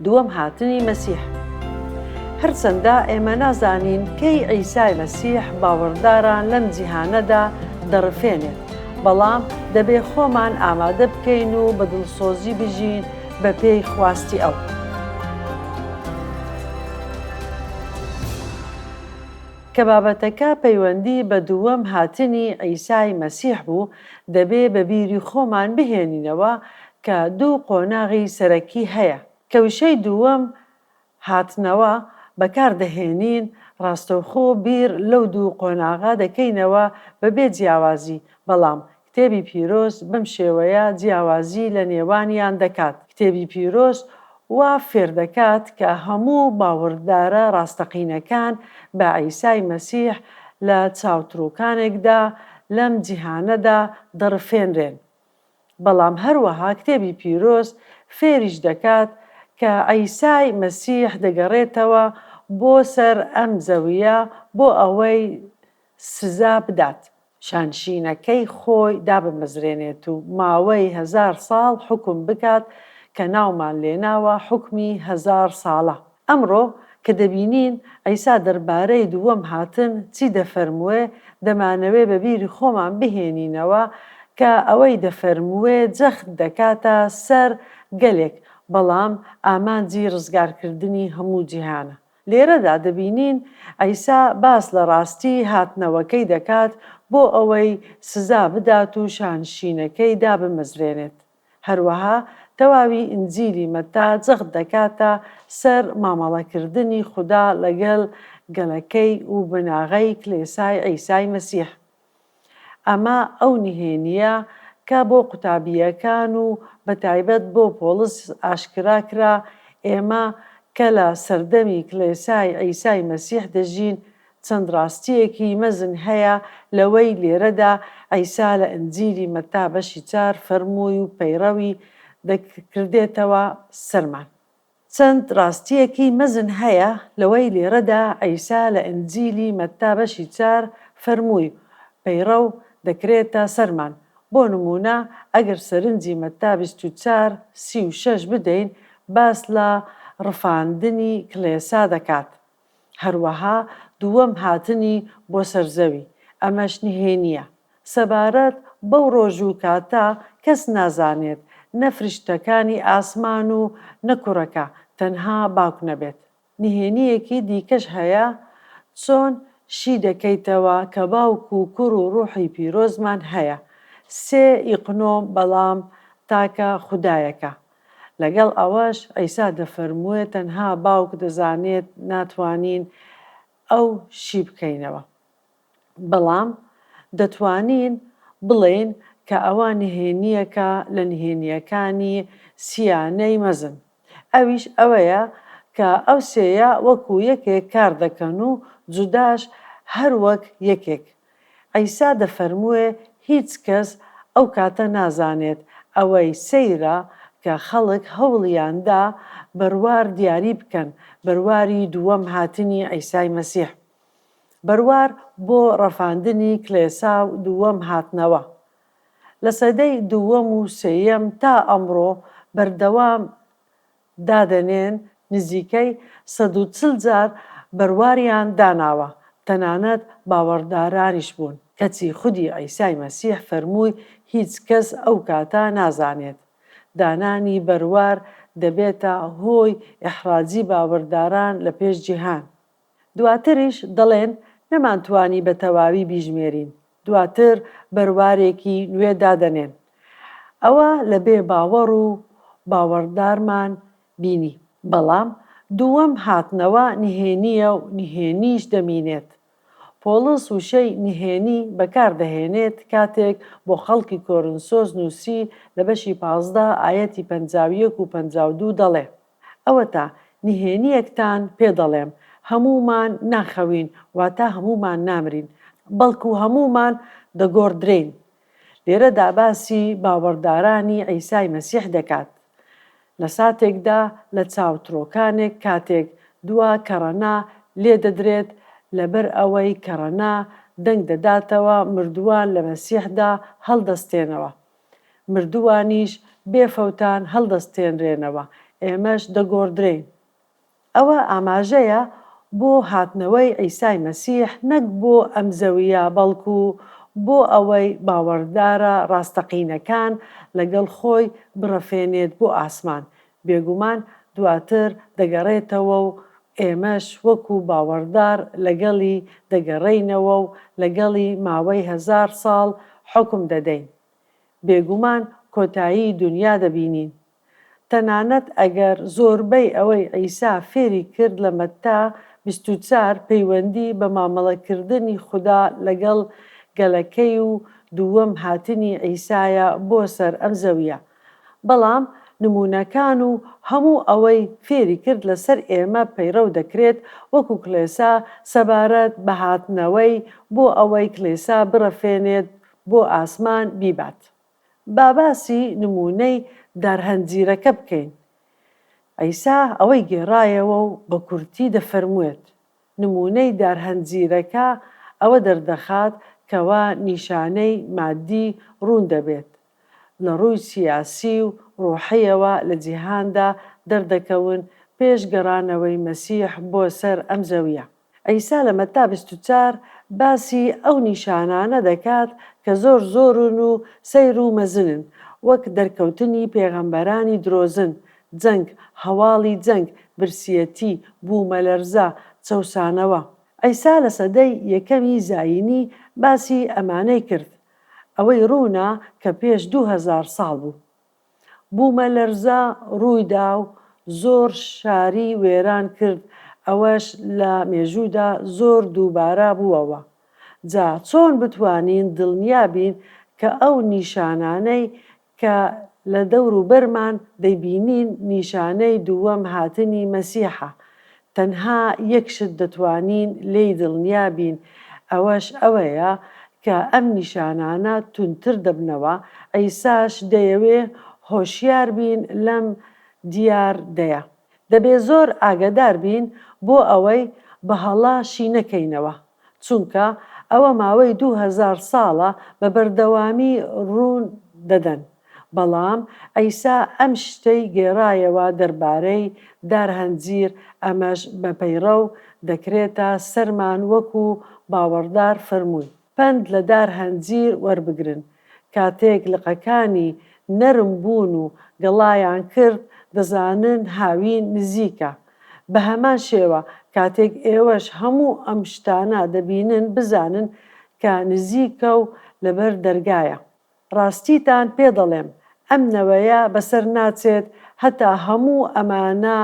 دووەم هاتنی مەسیح هەرچەندە ئێمە نازانین کەی عیسای مەسیح باوەڕداران لەم جیهانەدا دەڕفێنێت بەڵام دەبێ خۆمان ئامادە بکەین و بە دڵسۆزی بژین بە پێی خواستی ئەو. کە بابەتەکە پەیوەندی بە دووەم هاتنی عیسای مەسیح بوو دەبێ بە بیری خۆمان بهێنینەوە کە دوو قۆناغی سەرەکی هەیە. کەوشەی دووەم، هاتنەوە، بەکار دەهێنین، ڕاستەوخۆ بیر لەو دوو قۆناغە دەکەینەوە بەبێ جیاوازی، بەڵام کتێبی پیرۆز بەم شێوەیە جیاوازی لە نێوانیان دەکات، کتێبی پیرۆز وا فێر دەکات کە هەموو باوەڕدارە ڕاستەقینەکان بە عیسای مەسیح لە چاوتروکانێکدا لەم جیهانەدا دەڕفێنرێن. بەڵام هەروەها کتێبی پیرۆز فێریش دەکات کە عیسای مەسیح دەگەڕێتەوە بۆ سەر ئەم زەوییە بۆ ئەوەی سزا بدات، شانشینەکەی خۆی دابمەزرێنێت و ماوەی هەزار ساڵ حوکم بکات کە ناومان لێناوە حوکمی هەزار ساڵە. ئەمڕۆ کە دەبینین عیسا دەربارەی دووەم هاتن چی دەفەرمووێ، دەمانەوێ بە بیری خۆمان بهێنینەوە کە ئەوەی دەفەرمووێ جەخت دەکاتە سەر گەلێک، بەڵام ئامانجی ڕزگارکردنی هەموو جیهانە. لێرەدا دەبینین عیسا باس لە ڕاستی هاتنەوەکەی دەکات بۆ ئەوەی سزا بدات و شانشینەکەی دابمەزرێنێت. هەروەها تەواوی ئینجیلی مەتا جەخت دەکاتە سەر مامەڵەکردنی خودا لەگەڵ گەلەکەی و بناغەی کلێسای عیسای مەسیح. ئەمە ئەو نهێنییە کە بۆ قوتابییەکان و بە تایبەت بۆ پۆڵس ئاشکرا کرا، ئێمە کە لە سەردەمی کلێسای عیسای مەسیح دەژین، چەند ڕاستییەکی مەزن هەیە لەوەی لێرەدا عیسا لە ئنجیلی مەتا بەشی چار فەرمووی و پەیڕەوی دەکردێتەوە سەرمان. چەند ڕاستییەکی مەزن هەیە لەوەی لێرەدا عیسا لە ئنجیلی مەتا بەشی چار فەرمووی و پەیڕەو دەکرێتە سەرمان. بۆ نموونە ئەگەر سەرنجی مەتا بیست و چار سی و شەش بدەین باس لە ڕفاندنی کڵێسا دەکات. هەروەها دووەم هاتنی بۆ سەر زەوی، ئەمەش نهێنییە. سەبارەت بەو ڕۆژ و کاتە، کەس نازانێت، نە فریشتەکانی ئاسمان و نە کوڕەکە، تەنها باوک نەبێت. نهێنییەکی دیکەش هەیە، چۆن شی دەکەیتەوە کە باوک و کوڕ و ڕوحی پیرۆزمان هەیە، سێ ی قنۆ، بەڵام تاکە خودایەکە، لەگەڵ ئەوەش عیسا دەفەرمووێت تەنها باوک دەزانێت ناتوانین ئەو شی بکەینەوە. بەڵام دەتوانین بڵێین کە ئەوە نهێنییەکە لە نهێنییەکانی سیانەی مەزن. ئەویش ئەوەیە کە ئەو سێیە وەکو یەکێک کار دەکەن و جوداش هەر وەک یەکێک عیسا دەفەرمووێ هیچ کەس ئەو کاتە نازانێت، ئەوەی سەیرە کە خەڵک هەوڵیان دا بەروار دیاری بکەن، بەرواری دووەم هاتنی عیسای مەسیح. بەروار بۆ ڕەفاندنی کڵێسا و دووەم هاتنەوە. لە سەدەی دووەم و سێیەم تا ئەمڕۆ بەردەوام دادەنێن نزیکەی سەد و چل جار بەرواریان داناوە، تەنانەت باوەڕدارانیش بوون، کەچی خودی عیسای مەسیح فەرمووی هیچ کەس ئەو کاتە نازانێت. دانانی بەروار دەبێتە هۆی ئیحراجی باوەرداران لە پێش جیهان. دواتریش دەڵێن نەمانتوانی بە تەواوی بیژمێرین، دواتر بەروارێکی نوێ دادەنێن. ئەوە لە بێ باوەڕ و باوەڕدارمان بینی. بەڵام دووەم هاتنەوە نهێنییە و نهێنیش دەمینێت. پۆڵس وشەی نهێنی بەکاردەهێنێت کاتێک بۆ خەڵکی کۆرنسۆس نووسی لە بەشی پازدە ئایەتی پەنجا و یەک و پەنجا و دوو دەڵێ، ئەوەتا نهێنییەکتان پێ دەڵێم، هەموومان ناخەوین، واتە هەموومان نامرین، بەڵکو هەموومان دەگۆڕدرێین. لێرەدا باسی باوەڕدارانی عیسای مەسیح دەکات. لە ساتێکدا لە چاوترۆکانێک کاتێک دوا کەڕەنا لێ دەدرێت، لەبەر ئەوەی کەڕەنا دەنگ دەداتەوە، مردووان لە مەسیحدا هەڵدەستێنەوە. مردووانیش بێ فەوتان هەڵدەستێنرێنەوە، ئێمەش دەگۆڕدرێین. ئەوە ئاماژەیە بۆ هاتنەوەی عیسای مەسیح نەک بۆ ئەم زەوییە بەڵکو بۆ ئەوەی باوەڕدارە ڕاستەقینەکان لەگەڵ خۆی بڕەفێنێت بۆ ئاسمان، بێگومان دواتر دەگەڕێتەوە و ئێمەش وەکو باوەڕدار لەگەڵی دەگەڕێینەوە و لەگەڵی ماوەی هەزار ساڵ حوکم دەدەین. بێگومان کۆتایی دونیا دەبینین. تەنانەت ئەگەر زۆربەی ئەوەی عیسا فێری کرد لە مەتا بیست و چوار پەیوەندی بە مامەڵەکردنی خودا لەگەڵ گەلەکەی و دووەم هاتنی عیسایە بۆ سەر ئەم زەوییە، بەڵام نموونەکان و هەموو ئەوەی فێری کرد لەسەر ئێمە پەیڕەو دەکرێت وەکو کڵێسا سەبارەت بە هاتنەوەی بۆ ئەوەی کڵێسا بڕەفێنێت بۆ ئاسمان بیبات با باسی نموونەی دارهەنجیرەکە بکەین عیسا ئەوەی گێڕایەوە و بە کورتی دەفەرموێت نموونەی دارهەنجیرەکە ئەوە دەردەخات کەوا نیشانەی مادی ڕوون دەبێت لە ڕووی سیاسی و ڕوحییەوە لە جیهاندا دەردەکەون پێش گەڕانەوەی مەسیح بۆ سەر ئەم زەوییە. عیسا لە مەتا بیست و چوار باسی ئەو نیشانانە دەکات کە زۆر زۆرن و سەیر و مەزنن، وەک دەرکەوتنی پێغەمبەرانی درۆزن، جەنگ، هەواڵی جەنگ، برسیەتی، بوومەلەرزە، چەوسانەوە. عیسا لە سەدەی یەکەمی زایینی باسی ئەمانەی کرد، ئەوەی ڕوونە کە پێش دوو هەزار ساڵ بوو بوومەلەرزە ڕوویدا و زۆر شاری وێران کرد ئەوەش لە مێژوودا زۆر دووبارە بووەوە جا چۆن بتوانین دڵنیا بین کە ئەو نیشانانەی کە لە دەور و بەرمان دەیبینین نیشانەی دووەم هاتنی مەسیحە، تەنها یەک شت دەتوانین لێی دڵنیا بین ئەوەش ئەوەیە کە ئەم نیشانانە توندتر دەبنەوە، عیساش دەیەوێ هۆشیار بین لەم دیار دەیە. دەبێ زۆر ئاگەدار بین بۆ ئەوەی بە هەڵە شی نەکەینەوە. چونکە ئەوە ماوەی دوو هەزار ساڵە بە بەردەوامی ڕوون دەدەن، بەڵام عیسا ئەم شتەی گێڕایەوە دەربارەی دار هەنجیر، ئەمەش بە پەیڕەو دەکرێتە سەرمان وەکو باوەڕدار فەرمووی، پەند لە دار هەنجیر وەربگرن، کاتێک لقەکانی نەرم بوون و گەڵایان کرد، دەزانن هاوین نزیکە، بە هەمان شێوە کاتێک ئێوەش هەموو ئەم شتانە دەبینن بزانن کە نزیکە و لەبەر دەرگایە. ڕاستیتان پێ دەڵێم ئەم نەوەیە بەسەر ناچێت هەتا هەموو ئەمانە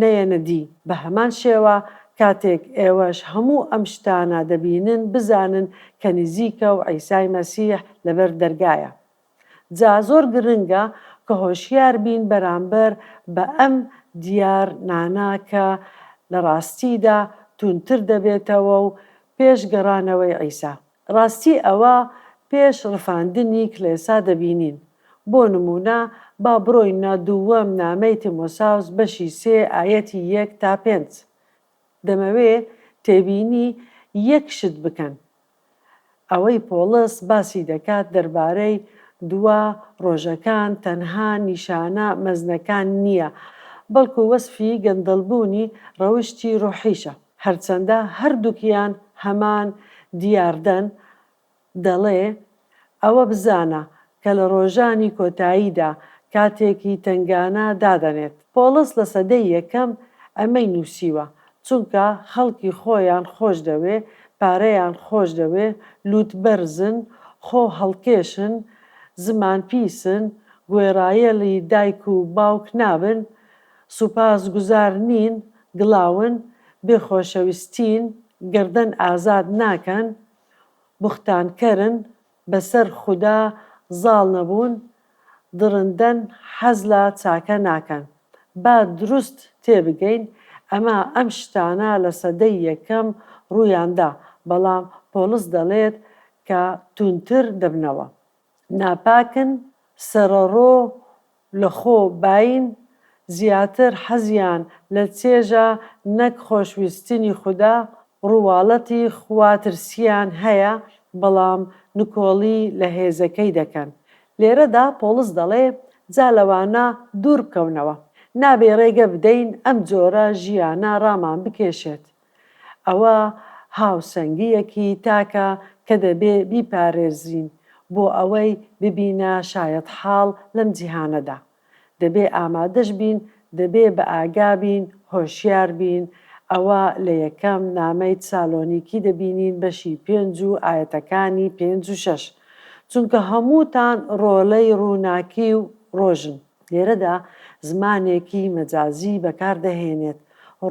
نەیەنە دی. بە هەمان شێوە کاتێک ئێوەش هەموو ئەم شتانە دەبینن بزانن کە نزیکە و عیسای مەسیح لەبەر دەرگایە. جا زۆر گرنگە کە هۆشیار بین بەرامبەر بە ئەم دیار نانە کە لە ڕاستیدا توندتر دەبێتەوە و پێش گەڕانەوەی عیسا ڕاستی ئەوە پێش ڕفاندنی کلێسا دەبینین بۆ نمونە با بڕۆینە دووەم نامەی تیمۆساوس بەشی سێ ئایەتی یەک تا پێنج دەمەوێ تێبینی یەک شت بکەن ئەوەی پۆڵس باسی دەکات دەربارەی دوا ڕۆژەکان تەنها نیشانە مەزنەکان نییە، بەڵکو وەسفی گەندەڵبوونی ڕەوشتی ڕۆحیشە. هەرچەندە هەردووکیان هەمان دیاردەن، دەڵێ، ئەوە بزانە کە لە ڕۆژانی کۆتاییدا کاتێک هی تەنگانە دادەنێت پۆڵس لە سەدەی یەکەم ئەمەی نووسیوە چونکە خەڵکی خۆیان خۆش دەوێ پارەیان خۆش دەوێ لووت بەرزن خۆ هەڵکێشن زمان پیسن گوێڕایەڵی دایک و باوک نابن سووپاس گوزار نین گڵاون بێ خۆشەویستین گەردەن ئازاد ناکەن بوختان کەرن بەسەر خودا زاڵ نەبوون دڕندەن حەز لە چاکە ناکەن با دروست تێبگەین ئەمە ئەم شتانە لە سەدەی یەکەم ڕوویان دا بەڵام پۆڵس دەڵێت کە توندتر دەبنەوە ناپاکن، سەرەڕۆ لە خۆ باین، زیاتر حەزیان لە چێژە نەک خۆشویستنی خودا، ڕوواڵەتی خواترسییان هەیە، بەڵام نکۆڵی لە هێزەکەی دەکەن. لێرەدا پۆڵس دەڵێ جا لەوانە دوور بکەونەوە. نابێ ڕێگە بدەین ئەم جۆرە ژیانە ڕامان بکێشێت. ئەوە هاوسەنگییەکی تاکە کە دەبێ بیپارێزین بۆ ئەوەی ببینە شایەتحاڵ لەم جیهانەدا. دەبێ ئامادەش بین، دەبێ بە ئاگا بین، هۆشیار بین. ئەوە لە یەکەم نامەی سالۆنیکی دەبینین بەشی پێنج و ئایەتەکانی پێنج و شەش. چونکە هەمووتان ڕۆڵەی ڕووناکی و ڕۆژن. لێرەدا زمانێکی مەجازی بەکار دەهێنێت،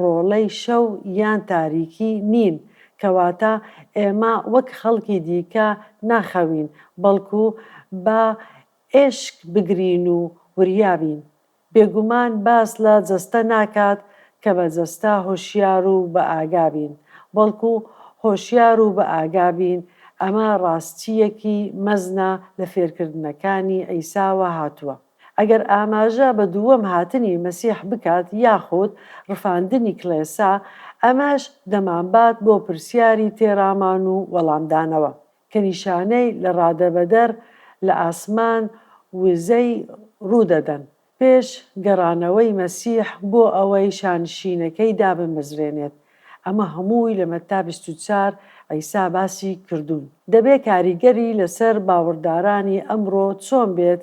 ڕۆڵەی شەو یان تاریکی نین، کەواتە ئێمە وەک خەڵکی دیکە ناخەوین، بەڵکو با ئێشک بگرین و وریا بین. بێگومان باس لە جەستە ناکات، کە بە جەستە هۆشیار و بە ئاگا بین، بەڵکو هۆشیار و بە ئاگا بین، ئەمە ڕاستییەکی مەزنە لە فێرکردنەکانی عیساوە هاتووە. ئەگەر ئاماژە بە دووەم هاتنی مەسیح بکات یاخود ڕفاندنی کڵێسا، ئەمەش دەمانبات بۆ پرسیاری تێڕامان و وەڵامدانەوە، کە نیشانەی لە ڕادەبەدەر لە ئاسمان وزەی ڕوو دەدەن، پێش گەڕانەوەی مەسیح بۆ ئەوەی شانشینەکەی دابمەزرێنێت، ئەمە هەمووی لە مەتا بیست و چوار عیسا باسی کردوون. دەبێت کاریگەری لەسەر باوەڕدارانی ئەمڕۆ چۆن بێت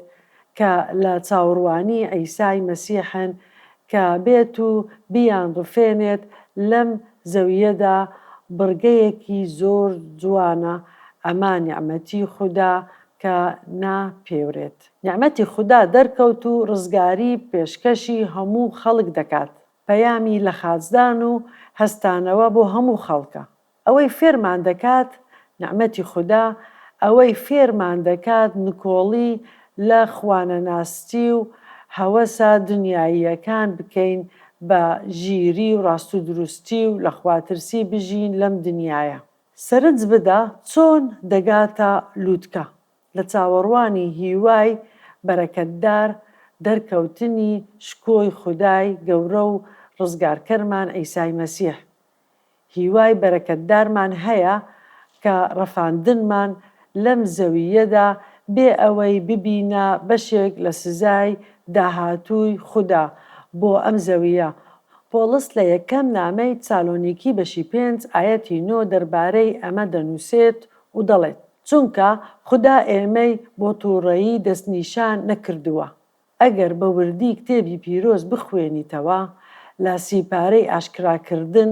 کە لە چاوەڕوانی عیسای مەسیحن کە بێت و بیانڕفێنێت لەم زەوییەدا بڕگەیەکی زۆر جوانە ئەمە نیعمەتی خودا کە ناپێورێت. نیعمەتی خودا دەرکەوت و ڕزگاری پێشکەشی هەموو خەڵک دەکات، پەیامی لەخاچدان و هەستانەوە بۆ هەموو خەڵکە. ئەوەی فێرمان دەکات نیعمەتی خودا، ئەوەی فێرمان دەکات نکۆڵی لە خوانەناستی و هەوەسە دنیاییەکان بکەین بە ژیری و ڕاستودروستی و لە خواترسی بژین لەم دنیایە. سەرنج بدە چۆن دەگاتە لوتکە، لە چاوەڕوانی هیوای بەرەکەتدار دەرکەوتنی شکۆی خودای گەورە و ڕزگارکەرمان عیسای مەسیح، هیوای بەرەکەتدارمان هەیە کە ڕەفاندنمان لەم زەوییەدا بێ ئەوەی ببینە بەشێک لە سزای داهاتووی خودا بۆ ئەم زەوییە. پۆڵس لە یەکەم نامەی چالۆنیکی بەشی پێنج ئایەتی نۆ دەربارەی ئەمە دەنووسێت و دەڵێت. چونکە خودا ئێمەی بۆ توڕەیی دەستنیشان نەکردووە، ئەگەر بە وردی کتێبی پیرۆز بخوێنیتەوە لە سی پارەی ئاشکراکردن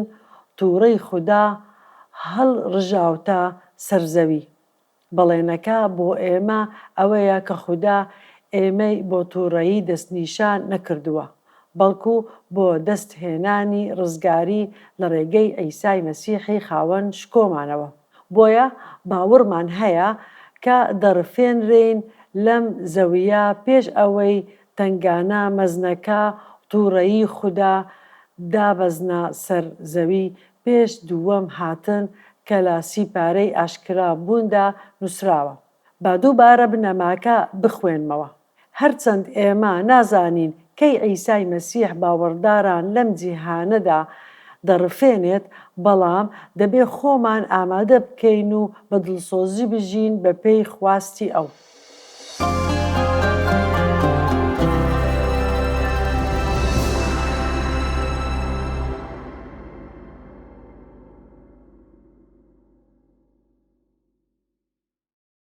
توڕەی خودا هەڵ ڕژاوتە سەر زەوی. بەڵێنەکە بۆ ئێمە ئەوەیە کە خودا ئێمەی بۆ توڕەیی دەستنیشان نەکردووە، بەڵکو بۆ دەست هێنانی ڕزگاری لە ڕێگەی عیسای مەسیحی خاوەن شکۆمانەوە. بۆیە باوڕمان هەیە کە دەڕفێنرێین لەم زەوییە پێش ئەوەی تەنگانە مەزنەکە، توڕەیی خودا، دابەزنە سەر زەوی، پێش دووەم هاتن کە لە سیپارەی ئاشکرا بووندا نووسراوە. با دووبارە بنەماکە بخوێنمەوە. هەرچەند ئێمە نازانین کەی عیسای مەسیح باوەڕداران لەم جیهانەدا دەڕفێنێت، بەڵام دەبێت خۆمان ئامادە بکەین و بە دڵسۆزی بژین بەپێی خواستی ئەو.